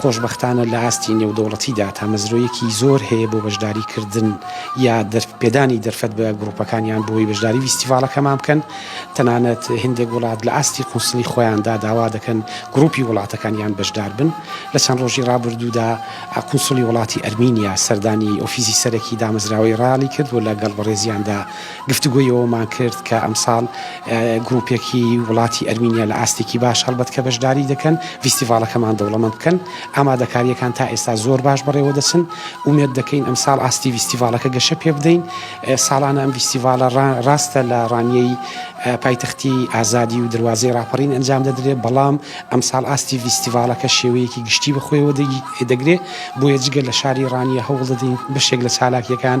خۆشبەختانە لە ئاستی نێودەوڵەتیدا تامەزرۆیەکی زۆر هەیە بۆ بەشداری کردن یا پێدانی دەرفەت بە گروپەکانیان بۆی بەشداری ڤیستیڤاڵەکەمان بکەن تەنانەت هندێک وڵات لە ئاستی قونسڵی خۆیاندا داوا دەکەن گروپی وڵاتەکان یان بەشدار بن لە چەند ڕۆژی ڕابردوودا قونسڵی وڵاتی ئەرمینیا سەردانی ئۆفیزی سەرەکی دامەزراوەی ڕالی کرد و لە گەڵ بەڕێزیاندا گفتوگۆی ئەوەمان کرد کە ئەمساڵ گروپێکی وڵاتی ئەرمینیا لە ئاستێکی باش هەڵبەت کە بەشداری دەکەن ڤیستیڤاڵەکەمان دەوڵەمەند بکەن، ئامادەکارییەکان تا ئێستا زۆر باش بەڕێوە دەچن، ئومێد دەکەین ئەمساڵ ئاستی ڤیستیڤاڵەکە گەشە پێ بدەین، ساڵانە ئەم ڤیستیڤاڵە ڕا ڕاستە لە ڕانیەی پایتەختی ئازادی و دەروازەی ڕاپەڕین ئەنجام دەدرێ بەڵام ئەمساڵ ئاستی ڤیستیڤاڵەکە شێوەیەکی گشتی بە خۆیەوە دەگی دەگرێ بۆیە جگە لە شاری ڕانیە هەوڵ دەدەین بەشێک لە چالاکییەکان